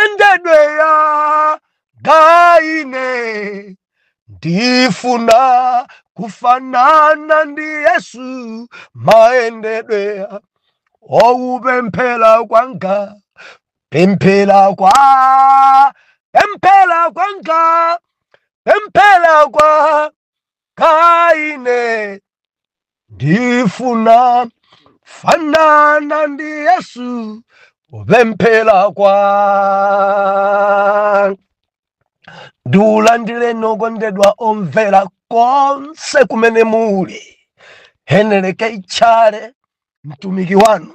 endedwe anga ine ndifuna kufanana ndi yesu mayendedwe kupemphera kwanga pemphera kwa pemphera kwanga pemphera kwa nga ine ndifuna fanana ndi yesu kupemphera kwa ndikulandireni okondedwa omvera konse kumene muli heneleke itchale mtumiki wanu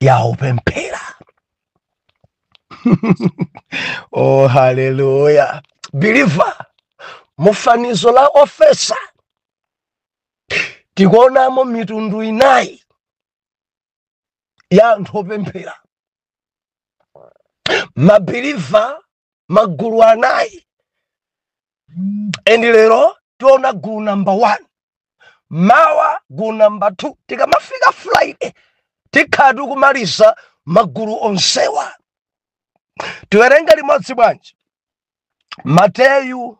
ya opemphera oh haleluya believer mu fanizo la ofesa tikuonamo mitundu inayi ya anthu opemphera mabiliva magulu anayi and lero tiona gulu number one mawa gulu number two tikamafika friday tikhala tikumaliza magulu onsewa tiwerenge limodzi bwanji mateyu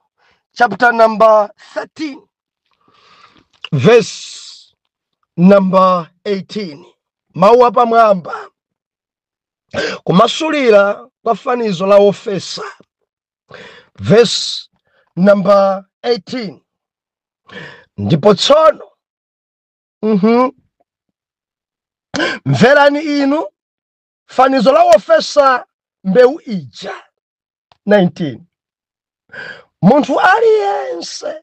chapter number 13 verse number 18 mawu apamwamba kumasulira kwa fanizo la ofesa verse number 18 ndipo tsono mverani inu fanizo la wofesa mbewu ija 19 munthu aliyense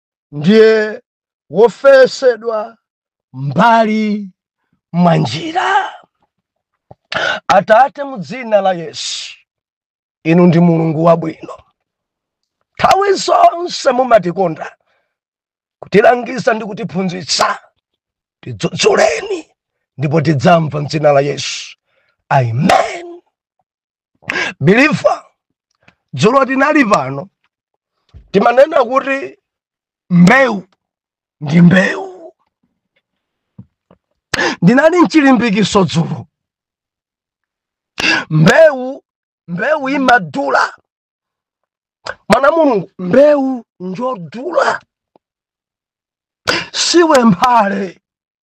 ndiye wofesedwa m'mbali mwa njira atate mu dzina la yesu inu ndi mulungu wabwino nthawi zonse mumatikonda kutilangiza ndi kutiphunzitsa tidzudzuleni ndipo tidzamva mdzina la yesu amen believer dzulo tinali pano timanena kuti mbewu ndi mbewu ndinali mchilimbikiso dzulo mbewu mbewu imadula mwana wa mulungu mbewu njodula siwe mphale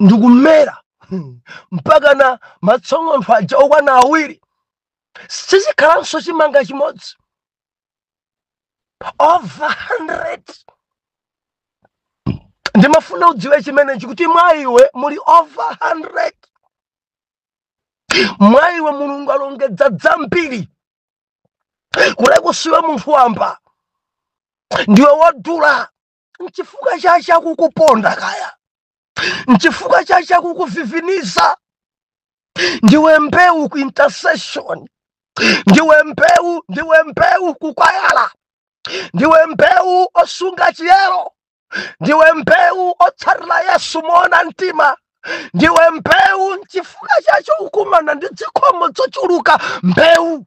ndikumera hmm, mpaka na matsong'ontho aja okwana awiri sichikhalanso chimanga chimodzi over 100 ndimafuna udziwe chimenechi kuti mwa iwe muli over 100 mwa iwe mulungu alongedza dzambiri kuteko siwe munthu wamba ndiwe wodula nchifukwa chache akukuponda kaya nchifukwa chache akukuviviniza ndiwe mbewu ku intercession ndiwe mbewu ndiwe mbewu kukwayala ndiwe mbewu osunga chiyero ndiwe mbewu otsatira yesu moona mtima ndiwe mbewu nchifukwa chache ukumana ndi zikhomo zochuluka mbewu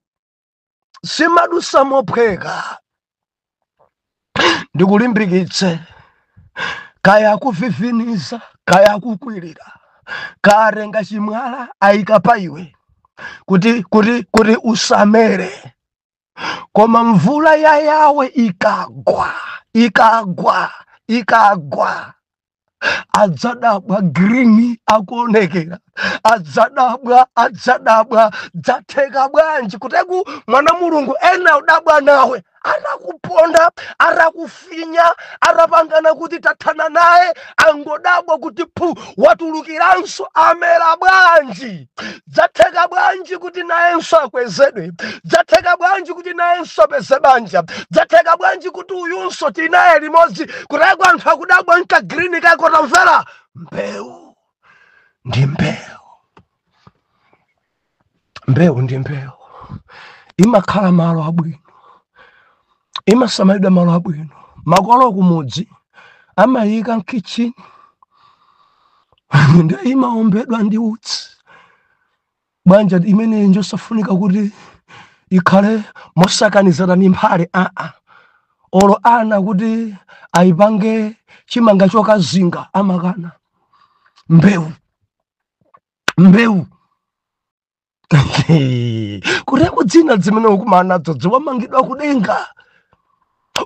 simadusa mophweka ndikulimbikitse kaya akuviviniza kaya akukwirira kaya atenga chimwala ayika pa iwe kuti kuti kuti usamere koma mvula ya yawe ikagwa ikagwa ikagwa adzadabwa green akuonekera adzadabwa adzadabwa dzatheka bwanji kuteko mwana mulungu ena udabwa nawe atakuponda atakufinya atapangana kuti tathana naye angodabwa kuti phu watulukiranso amera bwanji Dzatheka bwanji kuti nayenso akwezedwe? Dzatheka bwanji kuti nayenso apeze banja? Dzatheka bwanji kuti uyunso tinaye limodzi? Kuteko anthu akudabwa nka green kako tamvera mbewu ndi mbewu mbewu ndi mbewu imakhala malo abwino imasamalidwa malo abwino makolo kumudzi amayika mkitchini nde imaombedwa ndi utsi bwanji imeneyi njosafunika kuti ikhale mosakanizana ndi mphale aa olo ana kuti ayipange chimanga chokazinga amakana mbewu mbewu kuteko dzina dzimene ukumana nadzo dziwa wamangidwa kudenga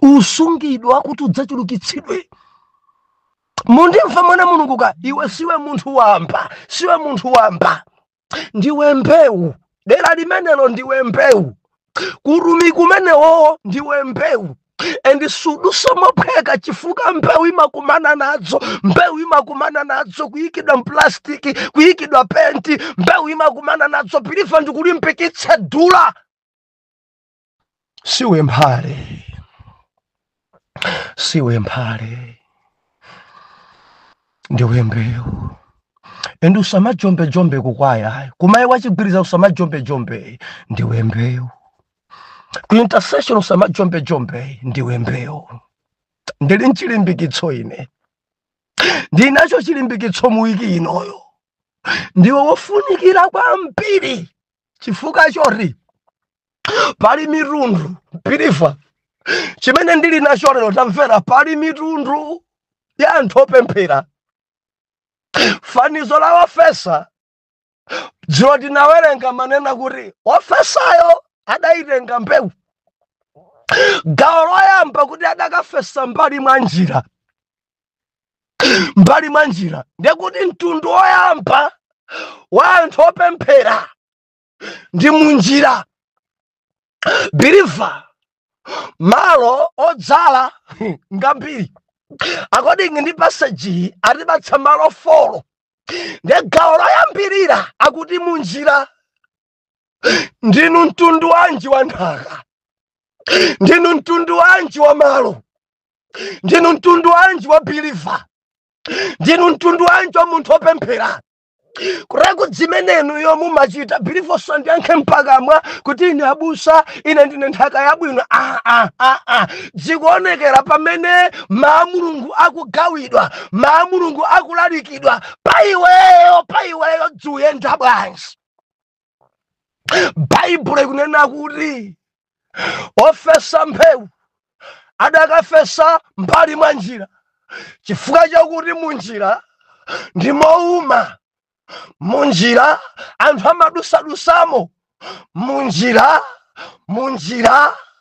usungidwa kuti udzachulukitsidwe mundimva mwana mulungu ka iwe siwe munthu wamba siwe munthu wamba ndiwe mbewu dera limenelo ndiwe mbewu kuutumiki umenewowo ndiwe mbewu and sudusa mophweka chifukwa mbewu imakumana nadzo mbewu imakumana nadzo kuyikidwa mplastiki kuyikidwa penti mbewu imakumana nadzo believer ndikulimbikitse dula siwe mphale siwe mphale ndiwe mbewu and usamajombejombe kukwayayi kumayi wachigwiriza usamajombejombe ndiwe mbewu ku intercession usamajombejombe ndiwe mbewu ndili nchilimbikitso ine ndinacho chilimbikitso muwiki inoyo ndiwe wofunikira kwambiri chifukwa choti pali mitundu biliva chimene ndili nacho lero tamvera pali mitundu ya anthu opemphera fanizo la ofesa dzulo tinawerenga amanena kuti ofesayo adayitenga mbewu gawo loyamba kuti adakafesa mbali mwa njira mbali mwa njira ndekuti mtundu woyamba wa anthu opemphera ndi munjira believer malo odzala ngambiri according ndi passage atipatsa malo folo ndi gawo loyambirira akuti munjira ndinu mtundu wanji wa nthaka ndinu mtundu wanji wa malo ndinu mtundu wanji wa biliva ndinu mtundu wanji wa munthu opemphera kuchokera ku zimene inuyo mumachita biliva osandiyankha mpakamwa kuti ine abusa ine ndine nthaka yabwino aa ah, ah, ah. zikuonekera pamene mawu a mulungu akugawidwa mawu a mulungu akulalikidwa pa iweyo pa iweyo zikuyenda bwanji baibulo ikunena kuti ofesa mbewu adakafesa mbali mwa njira chifukwa chakuti munjira ndi mouma munjira anthu amadutsadutsamo munjira munjira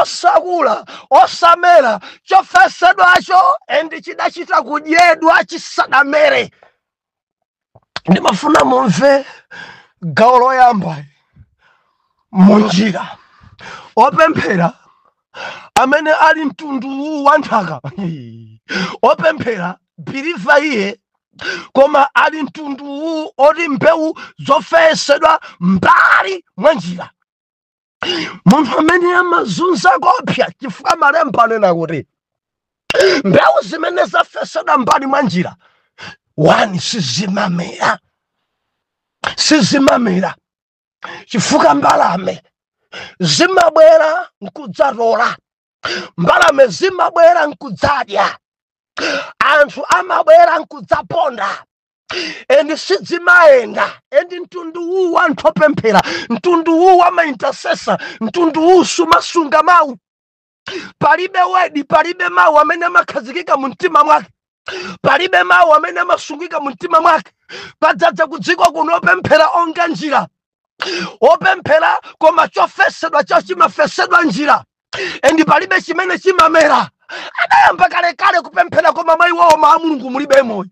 osakula osamera chofesedwacho endi chidachita kudyedwa chisadamere ndimafuna mumve gawo loyamba munjira opemphera amene ali mtundu uwu wa nthaka opemphera biliva iye koma ali mtundu uwu oti mbewu zofesedwa mbali mwa njira munthu amene amazunza koopsa chifukwa malemba anena kuti mbewu zimene zafesedwa mbali mwa njira wani sizimamera sizimamera chifukwa mbalame zimabwera nkudzatola mbalame zimabwera nkudzadya anthu amabwera nkudzaponda and sidzimayenda and mtundu uwu wa anthu opemphera mtundu uwu wa maintercessor mtundu uwu sumasunga mawu palibe word palibe mawu amene amakhazikika mu mtima mwake palibe mawu amene amasungika mu mtima mwake padzadza kudziko kuno opemphera onga njira opemphera koma chofesedwa chao chimafesedwa njira and palibe chimene chimamera adayamba kalekale kupemphera koma mwa iwowo mawu a mulungu mulibe moyo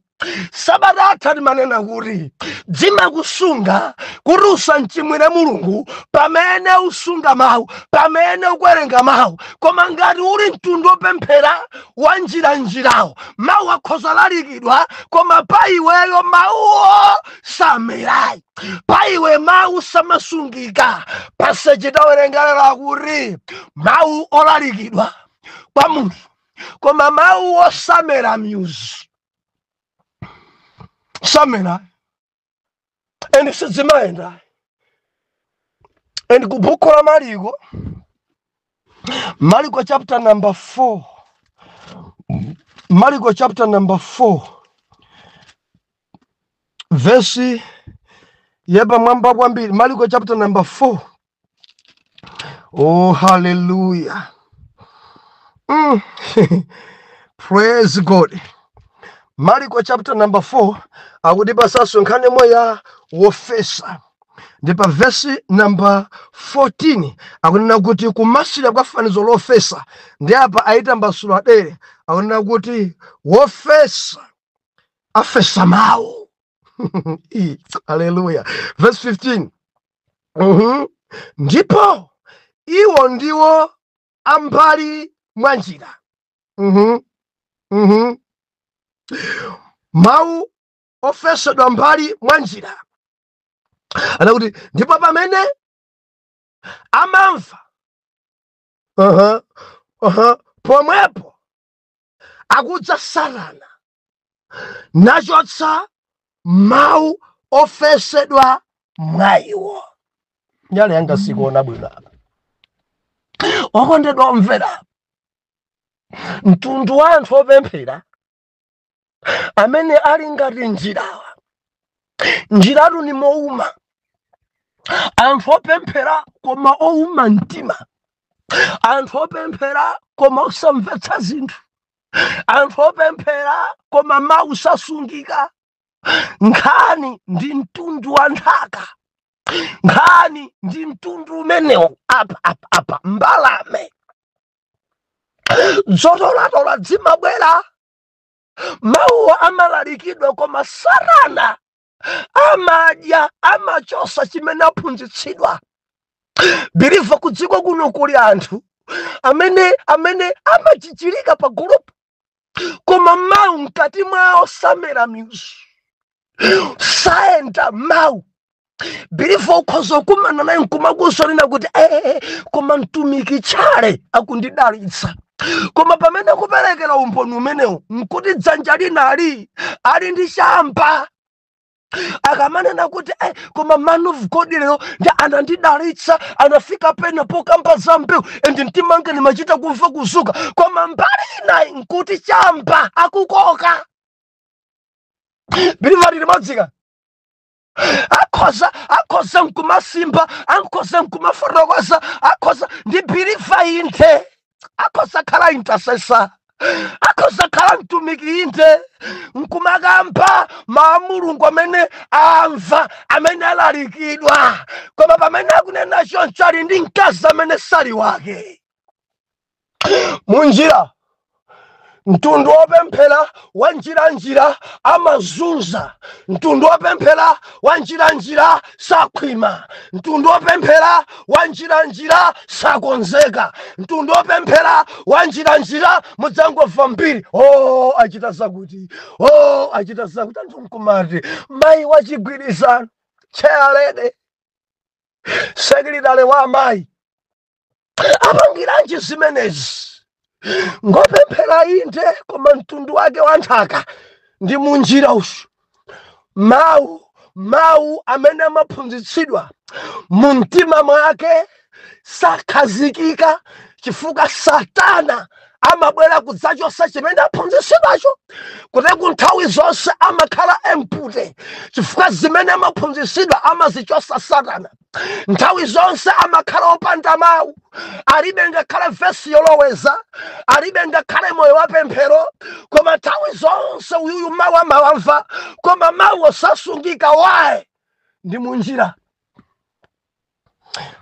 sabata yatha timanena kuti dzimakusunga kuti usamchimwire mulungu pamene usunga mawu pamene ukuwerenga mawu koma ngati uli mtundu opemphera wa njira njirawo mawu akhoza lalikidwa koma pa iweyo mawuwo samerayi pa iwe mawu samasungika passage tawerenga lero akuti mawu olalikidwa kwa munthu koma mawu osamera myuzi samera and sidzimayenda and ku buku la maliko maliko chapter number 4 maliko chapter number 4 vesi yapamwamba kwambiri mariko chapter number 4 oh hallelujah mm. praise god mariko chapter number 4 akutipatsanso nkhani yomwe ya wofesa ndi pa vesi namba 14 akunena kuti kumasira kwa fanizo lofesa ndi apa ayitambasula dere akunena kuti wofesa afesa mawu haleluya verse 15 mm -hmm. ndipo iwo ndiwo a m'mbali mwa njira mm -hmm. mm -hmm. mawu ofesedwa m'mbali mwa njira anakuti ndipo pamene amamva uh -huh. Uh -huh. pomwepo akudza Satana nachotsa mawu ofesedwa mwa iwo nyale yanga sikuona bwino apa okondedwa omvera mtundu wa anthu opemphera amene ali ngati njirawa njiratu ni mouma anthu opemphera koma ouma mtima anthu opemphera koma osamvetsa zinthu anthu opemphera koma mawu sasungika nkhani ndi mtundu wa nthaka nkhani ndi mtundu umenewu apa apa apa mbalame zotolatola zimabwera mawuwo amalalikidwa koma satana amadya amachosa chimene aphunzitsidwa biliva kudziko kuno kuli anthu amene amene amajijirika pa gulu koma mawu mkati mwawo samera mizu sayenda mawu biliva ukhoza ukumana naye nkumakuuza nʼkunena kuti ee eh, eh, eh, koma mtumiki Chale akundidalitsa koma pamene akuperekera umboni umenewu nkuti dzanja linali ali ndi chamba akamanena kuti eh, koma man of god lero nde anandidalitsa anafika pena pokamba za mbewu and mtima wanga ndimachita kumva kuzuka koma mbali inayi nkuti chamba akukoka biliva tili m'dziko akhoza akhoza nkumasimba akhoza nkumafotokoza akhoza ndi biliva inte akhoza khala intasesa akhoza khala mtumiki inte nkumakamba mawu a Mulungu amene amva amene alalikidwa koma pamene akunena choncho ali ndi mkazi amene sali wake munjira mtundu wopemphera wa njiranjira amazunza mtundu wopemphera wa njiranjira sakhwima mtundu wopemphera wa njiranjira sakonzeka mtundu wopemphera wa njiranjira mudzangomva mbiri o achita zakuti o achita zakuti anthu nkumati mayi wachigwirizano tcheyalede sekilitale wa amayi apangiranji zimenezi ngopemphera inde koma mtundu wake wa nthaka ndi munjira uyu mawu mawu amene amaphunzitsidwa mu mtima mwake sakhazikika chifukwa satana amabwera kudzachotsa chimene aphunzitsidwacho koteroko nthawi zonse amakhala empty chifukwa zimene amaphunzitsidwa amazichotsa satana nthawi zonse amakhala opanda mawu alibe ngakhale vesi yoloweza alibe ngakhale moyo wa pemphero koma nthawi zonse uyuyu mawu amawamva koma mawu osasungika why ndi munjira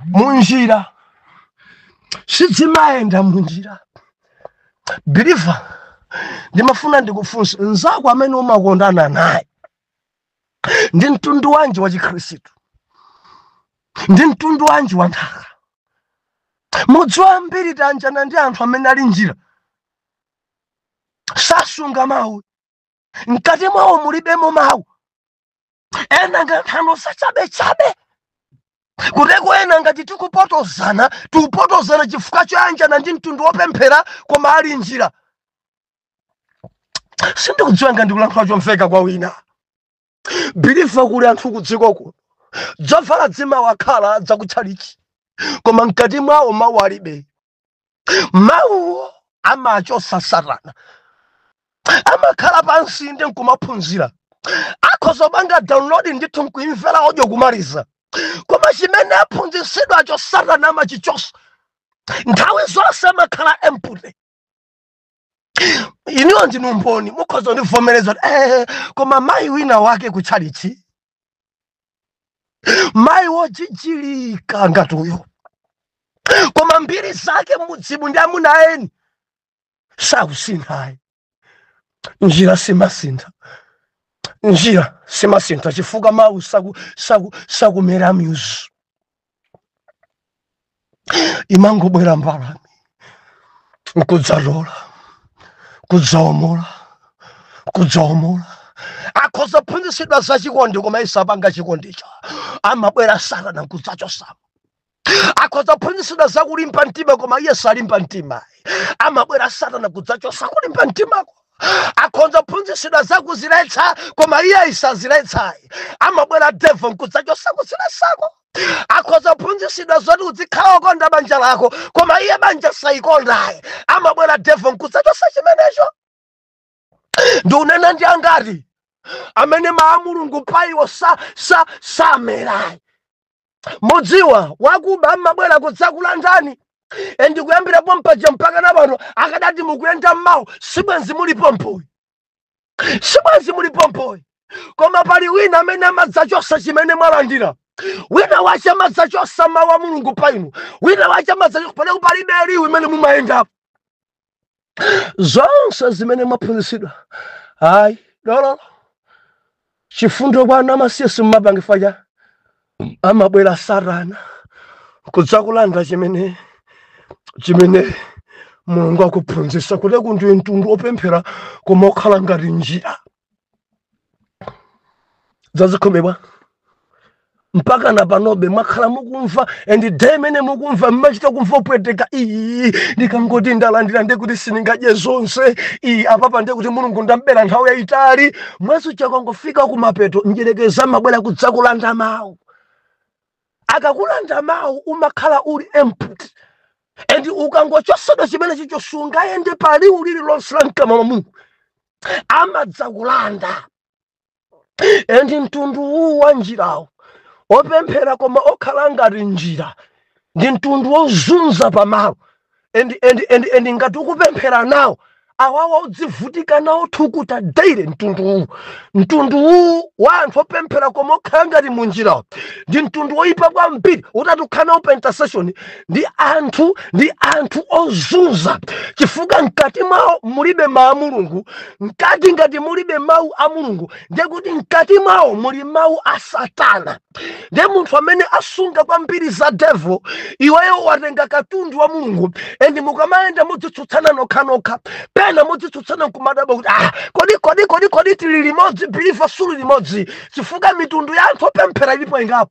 munjira sizimayenda munjira biliva ndimafuna ndikufunse nzako amene umakondana naye ndi mtundu wanji wa chikhristu ndi mtundu wanji wa nthaka mudziwa ambiri tayanjana ndi anthu amene ali njira sasunga mawu mkati mwawo mulibemo mawu ena nga nthano zachabechabe koteroko ena ngati tikupotozana tikupotozana chifukwa choyanjana ndi mtundu wopemphera koma ali njira sindikudziwa ngati ndikulankhula chomveka kwa wina believer kuli anthu kudziko kuno dzovala dzimawakhala dzakutchalichi koma mkati mwawo mawu alibe mawuwo amachosa satana amakhala pansi ndi nkumaphunzira akhoza kupanga download ndithu nkuimvera audio kumaliza koma chimene aphunzitsidwacho satana amachichosa nthawi zonse amakhala empty inuyo ndinu mboni mukhoza kundivomereza kuti eh, koma mayi wina wake ku tchalichi mayi wojijirika ngati uyo koma mbiri zake mmudzimu ndi amuna eni sakusinthayi njira simasintha njira simasintha chifukwa mawu saku- saku- sakumera mizu imangobwera mbalame nkudzatola kudzaomola kudzaomola akhoza phunzitsidwa za chikondi koma iye sapanga chikondicho amabwera satana nkudzachosamo akhoza phunzitsidwa za kulimba mtima koma iye salimba mtimayi amabwera satana kudzachosa kulimba mtimako akhonza kuphunzitsidwa za kuziletsa koma iye saziletsayi amabwera devil nkudzachosa kuziletsako akhoza kuphunzitsidwa zoti udzikhala okonda banja lako koma iye banja salikondayi amabwera devil nkudzachosa chimenecho ndikunena ndi angati amene mawu a mulungu paiwo sa, sa, samerayi mudziwa wakuba amabwera kudzakulandani and kuyambira pompaja mpaka na pano akadati mukuyenda mmawu sibwenzi muli pompoyi sibwenzi muli pompoyi koma pali wina amene amadzachosa chimene mwalandira wina wache amadzachosa mawu a mulungu pa inu wina wache amadzachosa palibe liwu imene mumayendapo zonse zimene mwaphunzitsidwa ayi dololo chifundo kwa ana amasiye simumapanga paja amabwera satana kudzakulanda chimene chimene mulungu akuphunzitsa kuti ndiwe mtundu opemphera koma okhala ngati njira zazikhomebwa mpaka na panobe mwakhala mukumva and day imene mukumva mmachita kumva kupweteka iyi ndikangoti ndalandira ndiye kuti sindingadye zonse iyi apapa ndiye kuti mulungu ndambera nthawi yayitali mweso chakangofika kumapeto mdyerekezi amabwera kudzakulanda mawu akakulanda mawu umakhala uli empty and ukangochosedwa chimenechicho sungayende paliwu lililonse la mkamwa mwa mulungu amadzakulanda endi mtundu uwu wa njirawo opemphera koma okhala ngati njira ndi mtundu wozunza pamalo endi endi endi endi ngati ukupemphera nawo awawa udzivutika nawo thukuta daire mtundu uwu mtundu uwu wa anthu opemphera koma okhala ngati munjirawo ndi mtundu woyipa kwambiri utati ukhale nawo pa intercession ndi anthu ndi anthu ozunza chifukwa mkati mwawo mulibe mawu a mulungu mkati ngati mulibe mawu a mulungu ndiye kuti mkati mwawo muli mawu a satana ndiye munthu amene asunga kwambiri za devo iweyo watenga katundu wa mulungu endi mukamayenda mudzitsutsana nokhanokha pena mudzitsutsana nkumadabwa kuti ah, kodi kodi kodi kodi tili limodzi believer suli limodzi chifukwa mitundu ya anthu opemphera ilipo ingapo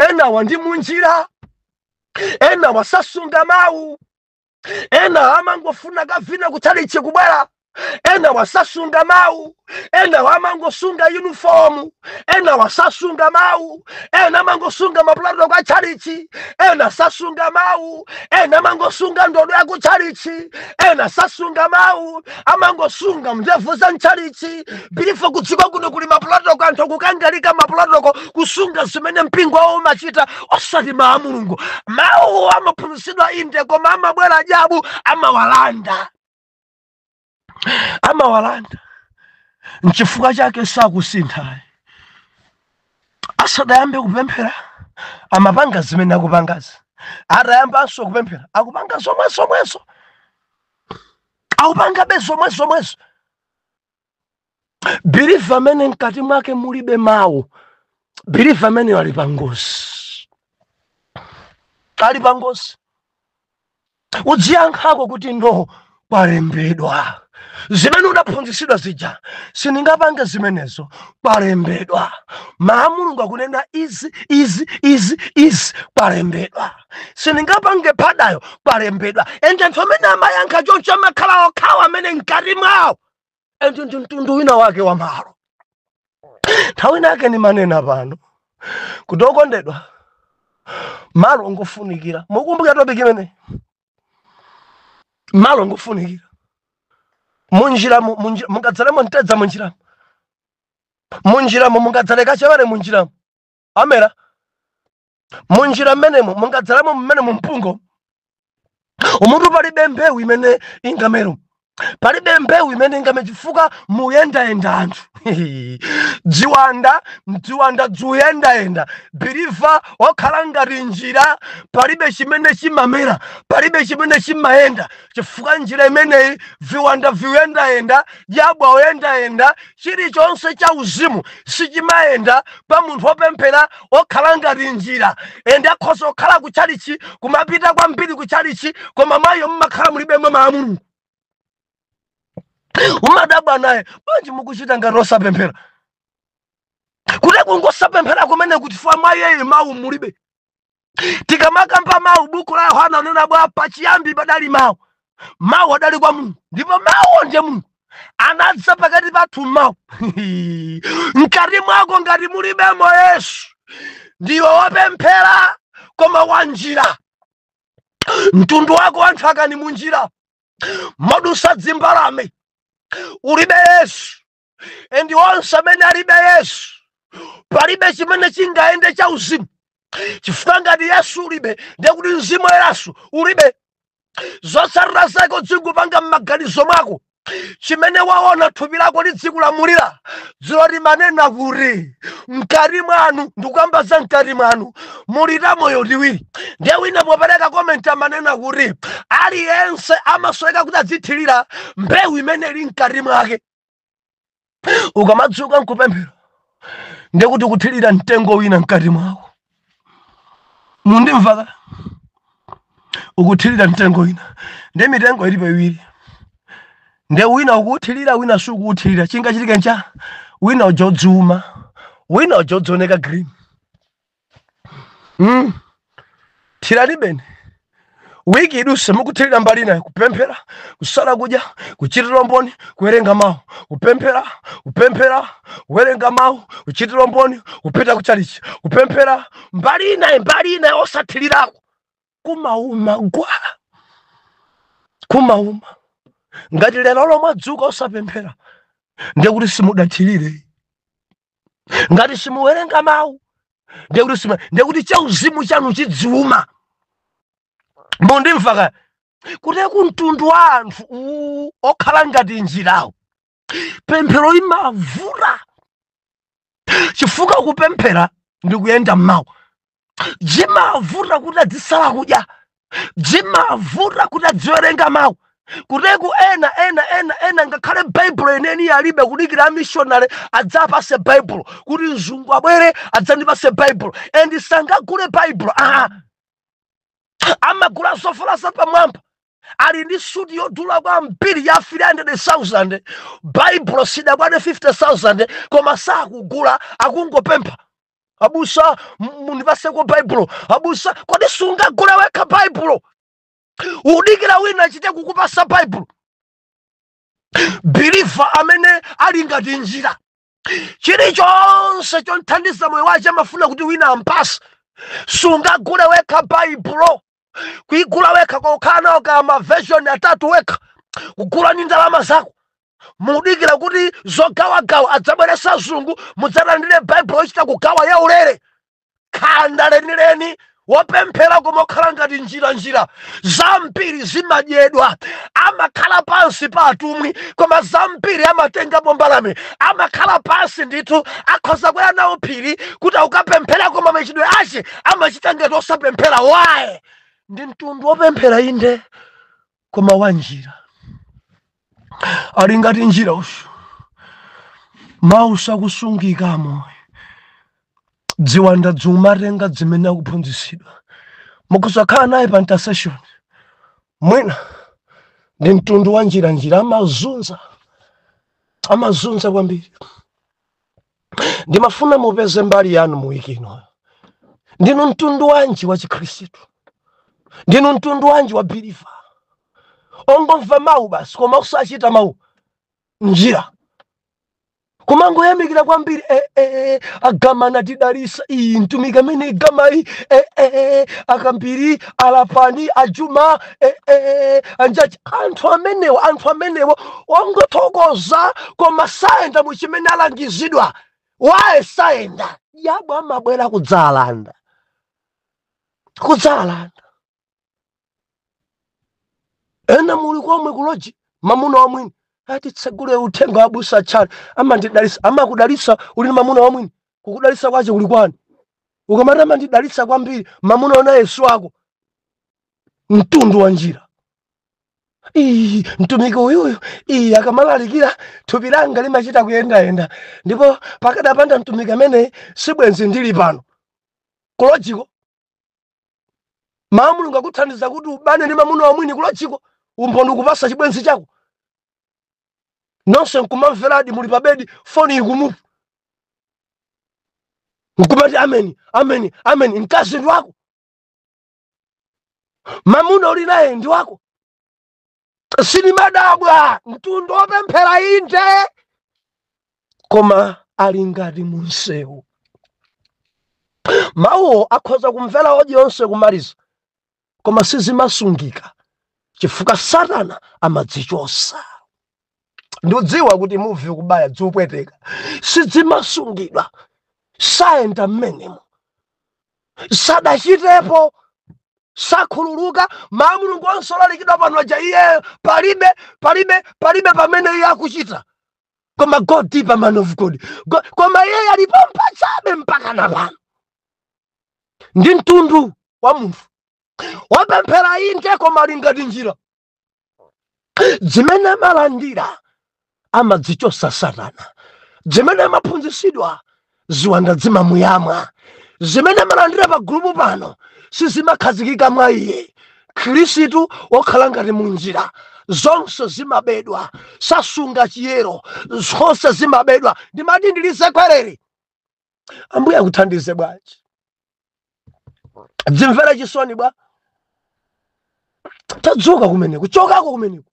ena wa ndi munjira enawa sasunga mawu ena amangofuna kavina kutchalitchi kubwera ena wasasunga mawu ena wamangosunga yunifomu ena wasasunga mawu ena amangosunga mapulotoko a tchalitchi ena sasunga mawu ena amangosunga ndodo ya ku tchalitchi ena sasunga mawu amangosunga ndevu za mtchalitchi believer kudziko kuno kuli mapulotoko anthu akukangalika mapulotoko kusunga zimene mpingo wawo umachita osati mawu a mulungu mawuwo amaphunzitsidwa inde koma amabwera adyabu amawalanda amawalanda nchifukwa chake sakusinthayi asadayambe kupemphera amapanga zimene akupangazi atayambanso kupemphera akupanga zomwezomwezo akupangabe zomwe zomwezo believer amene mkati mwake mulibe mawu believer ameneyo ali pangozi ali pangozi udziyankhako kuti no kwalembedwa zimene udaphunzitsidwa zija sindingapange zimenezo kwalembedwa mawu a mulungu akunena izi izi izi izi kwalembedwa sindingapange phadayo kwalembedwa ende anthu amene amayankha choncho amakhala okhawa amene mkati mwawo ende ndi mtundu wina wake wa malo nthawi inayake ndimanena pano kuti okondedwa malo ngofunikira mukumbukira topic imeneyi malo ngofunikira munjiramo munji- mungadzalemo mtedza munjiramo munjiramo mungadzale kachewere munjiramo amera munjira mmenemo mungadzalemo mmenemo mpungo umutu palibe mbewu imene ingamero palibe mbewu imene ingamere chifukwa muyendayenda anthu dziwanda dziwanda dzuyendayenda biliva okhala ngati njira palibe chimene chimamera palibe chimene chimayenda chifukwa njira imeneyi viwanda viuyendayenda jabwa uyendayenda chilichonse cha uzimu sichimayenda pa munthu opemphera okhala ngati njira ende akhoza kukhala ku chalichi kumapita kwambiri ku chalichi koma mwaiyo mumakhala mulibe mwa mawu a mulungu umadabwa naye bwanji mukuchita ngati osapemphera kuti kungosapemphera kumene chifukwa mwaiyeyi mawu mulibe tikamakamba mawu buku la yohana ananena bwa pachiyambi padali mawu mawu adali kwa mulungu ndipo mawu ndiye mulungu anadza pakati pathu mawu mkati mwako ngati mulibemo yesu ndiwe wopemphera koma wanjira mtundu wako wanthu akani munjira modusa dzimbalame ulibe yesu endi onse amene alibe yesu palibe chimene chingayende cha uzimu chifukwa ngati yesu ulibe ndiye kuti mzimu woyeranso ulibe zotsatira zake udzingopanga m'maganizo mwako chimene waona thupi lako lidzikulamulira dzulo ndimanena kuti mkati mwanu ndikukamba za mkati mwanu muli ta moyo tiwiri ndiye wina popereka komenti amanena kuti aliyense amasoweka kuti adzithirira mbewu imene ili mkati mwake ukamadzuka nkupemphera ndekuti ukuthirira mtengo wina mkati mwako mundimvaka ukuthirira mtengo wina nde mitengo ilipo iwiri nde wina ukuuthirira wina sukuuthirira chingachitike ncha wina uja adziuma wina uja adzioneka green Mm. thiriranibeni wiki iduse mukuthirira mbali inayi kupemphera kusala kudya kuchitira mboni kuwerenga mawu kupemphera kupemphera kuwerenga mawu kuchitira mboni kupita kuchalichi kupemphera mbali inayi mbali inayi osathirirako kumauma gwa kumauma ngati lero lolo mwadzuka osapemphera ndiye kuti simudathirire ngati simuwerenga mawu ndekuti sima ndekuti chauzimu chanu chidziuma mundimvaka kuteku mtundu wa anthu uwu okhala ngati njirawo pemphero limavuta chifukwa kupemphera ndi kuyenda mmawu zimavuta kuti adzisala kudya zimavuta kuti adziwerenga mawu kutake ena ena ena ena ngakhale baibulo yeniyeni alibe kudikira amishonale adzawapase baibulo kuti mzungu abwere adzandipase baibulo and sangagule baibulo aa amagula zovala zapamwamba ali ndi suti yodula kwambiri ya 300000 baibulo siyikukwana 50000 koma sakugula akungopempha abusa m- mundipaseko baibulo abusa kodi sungagule wekha baibulo ukudikira wina achite kukupasa baibulo biliva amene ali ngati njira chilichonse chomthandiza moyo wace amafuna kuti wina ampase sungagule wekha baibulo kuigula wekha kukhala nawo ka maveshoni atatu wekha kugula ni ndalama zako mukudikira kuti zogawagawa adzabweresa azungu mudzalandire baibulo yochita kugawa yaulere khanda lenileni wopemphera koma okhala ngati njiranjira zambiri zimadyedwa amakhala pansi pa atumwi koma zambiri zimatengapo mbalame amakhala pansi ndithu akhoza kwera nawo phiri kuti akukapemphera koma machitidwe ache amachita ngati osapemphera why ndi mtundu wopemphera inde koma wa njira ali ngati njira uyu mawu sakusungika mmoyo dziwanda dzikumatenga dzimene akuphunzitsidwa mukhoza kukhala naye pa intercession mwina ndi mtundu wa njira njira amazunza amazunza kwambiri ndimafuna mupeze mbali yanu mu wiki ino ndinu mtundu wanji wa chikhristu ndinu mtundu wanji wa biliva ongomva mawu basi koma osachita mawu njira kumangoyamikira kwambiri eh, eh, eh, a Gama anatidalisa iyi mtumiki amene igama iyi eh, eh, eh, akambiri alapani ajuma eh, eh, anjati anthu amenewo anthu amenewo ongothokoza koma sayenda mu chimene alangizidwa why sayenda dyabu amabwera kudzalanda kudzalanda ena muli komweko ku loji mamuna wamwini ati titsegule uthenga wa abusa tchani amandidalisa amakudalisa uli ni mamuna wamwini kukudalisa kwache kuli kwani ukamati amandidalisa kwambiri mamuna ona yesu wako mtundu wa njira iyi mtumiki uyuyu akamalalikira thupi langa limachita kuyendayenda ndipo pakadapanda mtumiki ameneyi sibwenzi ndili pano kulojiko mawu mulungu akuthandiza kuti ubane ndi mamuna wamwini kulojiko umboni ukupasa chibwenzi chako nonse nkumamveradi muli pa bedi foni ikumutu nkumati ameni ameni ameni mkazi ndi wako mamuna uli naye ndi wako sinimadabwa mtundu wopemphera inde koma ali ngati munsewu mawuwo akhoza kumvera odiyo yonse kumaliza koma sizimasungika chifukwa satana amadzichosa ndikudziwa kuti muvi ukubaya zikupweteka sidzimasungidwa sayenda mmenemo sadachitepo sakhululuka mawu a mulungu onse olalikidwa pano aja iyeyo palibe palibe palibe pamene iye akuchita koma go deeper man of god koma iye ali pompajabe mpaka na pano ndi mtundu wa munthu wopemphera inde koma ali ngati njira zimene amalandira amadzichosa satana zimene amaphunzisidwa ziwanda dzimamuyamwa zimene amalandira pa gulupu pano sizimakhazikika mwa iye mkhristu wokhala ngati munjira zonse zimabedwa sasunga chiyero zonse zimabedwa ndimati ndilisekwerere ambuye akuthandize bwanji dzimvere chisoni bwa tadzuka kumeneko chokako kumeneko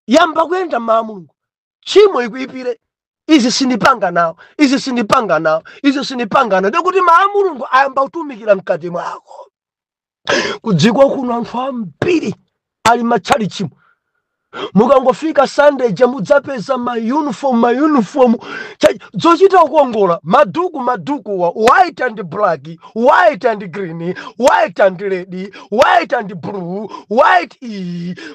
yamba kuyenda mmawu a mulungu tchimo likuipire izi sindipanga nawo izi sindipanga nawo izi sindipanga nawo ndikuti mawu a mulungu ayamba kutumikira mkati mwako kudziko kuno anthu ambiri ali mmatchalitchimu mukangofika sunday ija mudzapeza mauniform mauniform zochita kukongola maduku madukuwa white and black white and green white and red white and blue white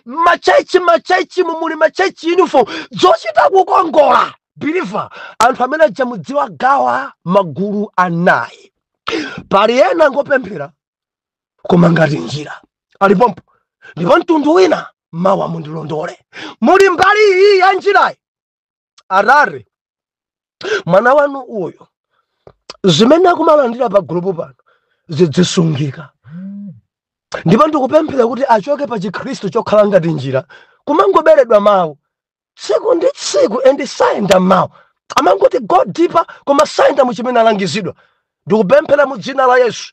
machechi machechi mumuli machechi uniform zochita kukongola believer anthu amene aja mudziwagawa magulu anayi pali ena ngopemphera koma ngati njira alipompo ndipo mtundu wina mawa mundilondole muli mbali iyi ya njirayi atate mwana wanu uyu zimene akumalandira pa gulupu pano zidzisungika ndipo ndikupemphera kuti achoke pa chikhristu chokhala ngati njira kumangoberedwa mawu tsiku ndi tsiku and sayenda m'mawu amangoti go deeper koma sayenda mu chimene alangizidwa ndikupemphera mu dzina la yesu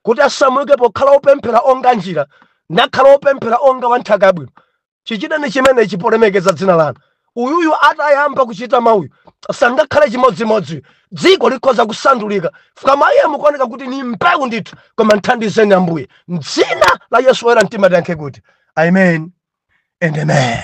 kuti asamuke pokhala opemphera onga njira nakhala opemphera onga wa nthaka yabwino chichiteni chimenechi polemekeza dzina lanu uyuyu atayamba kuchita mawuyu sangakhale chimodzimodzi dziko likhoza kusandulika koma iye mukuoneka kuti ni mbewu ndithu koma mthandizeni ambuye mdzina la yesu oyera mtima tiyankhe kuti amen and amen